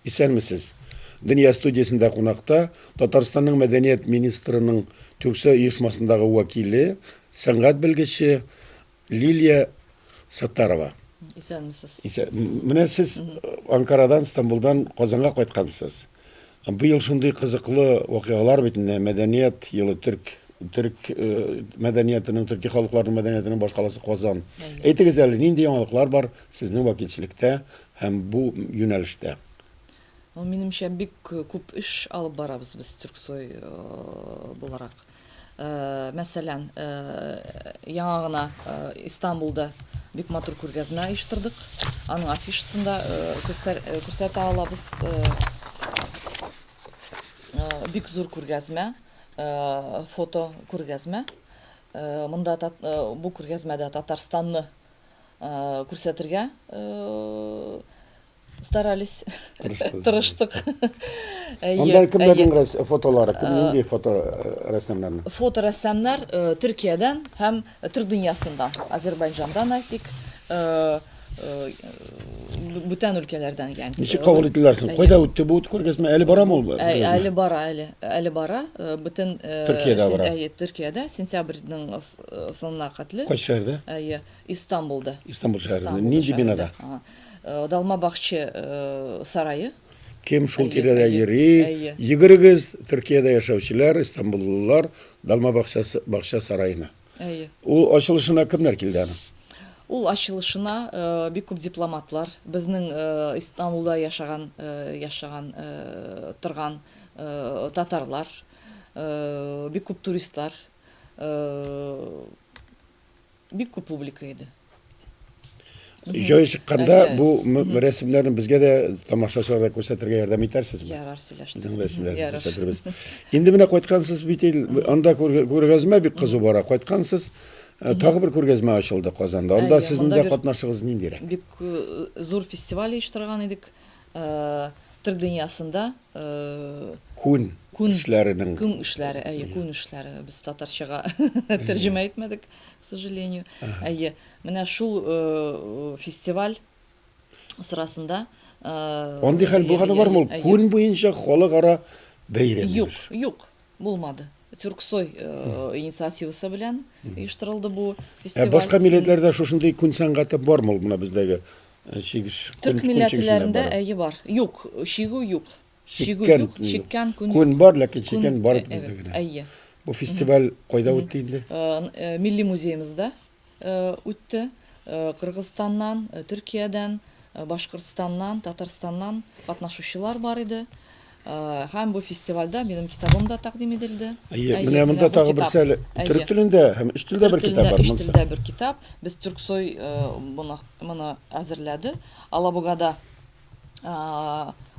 Исәнмесез. Дөнья студиясендә кунакта Татарстанның мәдәният министрының Тюксо оешмасындагы вәкиле, сәнгать белгече Лилия Саттарова. Исәнмесез. Исә... Менә сез Анкарадан, Стамбулдан Казанга кайткансыз. Быел шундый кызыклы вакыйгалар бит инде, мәдәният елы, төрк төрк мәдәниятының, төрки халыкларның мәдәниятының башкаласы Казан. Әйтегез әле, нинди яңалыклар бар сезнең вәкилчелектә һәм бу юнәлештә? Минемчә, бик күп эш алып барабыз без Төрксой буларак. Мәсәлән, яңа гына Истанбулда бик матур күргәзмә оештырдык. Аның афишасын да күрсәтә алабыз. Бик зур күргәзмә, фото күргәзмә. Монда бу күргәзмәдә Татарстанны күрсәтергә старались тырыштык анда кемнәрнең фотолары кем нинди фото рәссамнарның фото рәссамнар төркиядән һәм төрк дөньясында азербайҗандан әйтик бүтән өлкәләрдән икән. Ничек кабул ителәр соң? Кайда үтте бу күргәзмә? Әле барамы ул? Әле бара, әле. Әле бара. Бүтән Төркиядә бара. Әйе, Төркиядә сентябрьнең соңына хәтле. Кайсы шәһәрдә? Әйе, Истанбулда. Истанбул шәһәрендә. Нинди бинада? Далма бакчы сарае. Кем шул тирәдә йөри? Йөгерегез, Төркиядә яшәүчеләр, истанбуллылар, Далма бакча сараена. Әйе. Ул ачылышына кемнәр килде аның? Ул ачылышына э, бик күп дипломатлар, безнең э, Истанбулда яшаган э, яшаган торган татарлар, бик күп туристлар Бик күп публика иде. Җай чыкканда бу рәсемнәрне безгә дә тамашачыларга күрсәтергә ярдәм итәрсезме? Ярар, сөйләштек. Безнең рәсемнәрне күрсәтербез. Инде менә кайткансыз бит ил, анда күргәзмә бик кызу бара. Кайткансыз, э, тагы бер күргәзмә ачылды Казанда. Анда сезнең дә катнашыгыз ниндирәк? Бик э, зур фестиваль оештырган идек. Төрк дөньясында күн эшләренең күн эшләре, әйе, күн эшләре. Без татарчага тәрҗемә итмәдек, к сожалению. Әйе, менә шул фестиваль сырасында Андый хәл булганы бармы ул? Күн буенча халыкара бәйрәм. Юк, юк. Булмады. Тюрксой инициативасы белән оештырылды бу фестиваль. Ә башка милләтләрдә шушындый күн сәнгате бармы ул менә бездәге чигеш? Төрк милләтләрендә әйе бар. Юк, чигү юк. Чигү юк, чиккән күн. Күн бар, ләкин чиккән бар бездә генә. Әйе. Бу фестиваль кайда үтте инде? Милли музеемызда. Үтте. Кыргызстаннан, Төркиядән, Башкортстаннан, Татарстаннан катнашучылар бар иде. Һәм бу фестивальдә минем китабым да тәкъдим ителде. Әйе, менә монда тагы берсе әле. Төрек телендә һәм өч телдә бер китап бар. Өч телдә бер китап. Без Төрксой моны әзерләде. Алабугада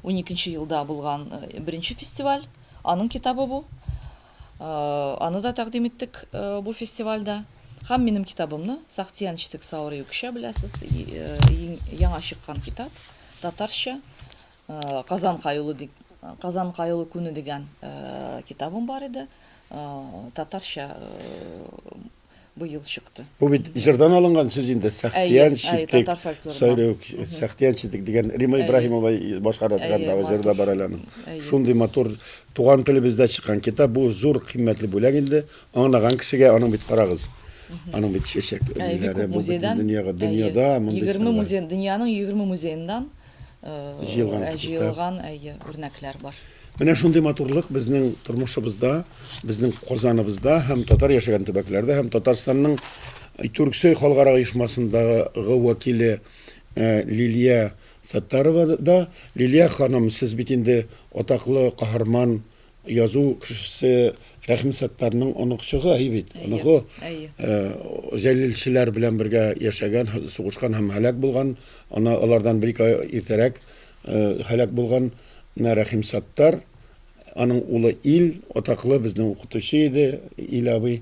уникенче елда булган беренче фестиваль. Аның китабы бу. Аны да тәкъдим иттек бу фестивальдә. Һәм минем китабымны, Сахтиян читек саурый үкчә, беләсез, яңа чыккан китап, татарча, Казан каюлы дип, Казан каюлы күне дигән китабым бар иде, татарча. быел чыкты. Бу бит җырдан алынган сүз инде, Сәхтиян читек, Сайрык, Сәхтиян читек дигән Рима Ибраһимова башкара торгандагы җыр да бар әле аның. Шундый матур туган телебездә чыккан китап, бу зур кыйммәтле бүләк инде. Аңлаган кешегә аның бит карагыз. Аның бит чәчәк музейдан дөньяга дөньяда мондый 20 музей дөньяның 20 музееннан җыелган кебек. Җыелган, әйе, үрнәкләр бар. Менә шундый матурлык безнең тормышыбызда, безнең Казаныбызда һәм татар яшәгән төбәкләрдә һәм Татарстанның Тюрксой халыкара оешмасындагы вәкиле Лилия Саттарова да. Лилия ханым, сез бит инде атаклы каһарман Язу кешесе Рәхим Саттарның оныкчыгы һи бит. Оныкы җәлилчеләр белән бергә яшәгән, сугышкан һәм һәлак булган. Ана алардан бер-ике ай иртәрәк һәлак булган. Менә Рәхим Саттар, аның улы Ил, атаклы безнең укытучы иде Ил абый.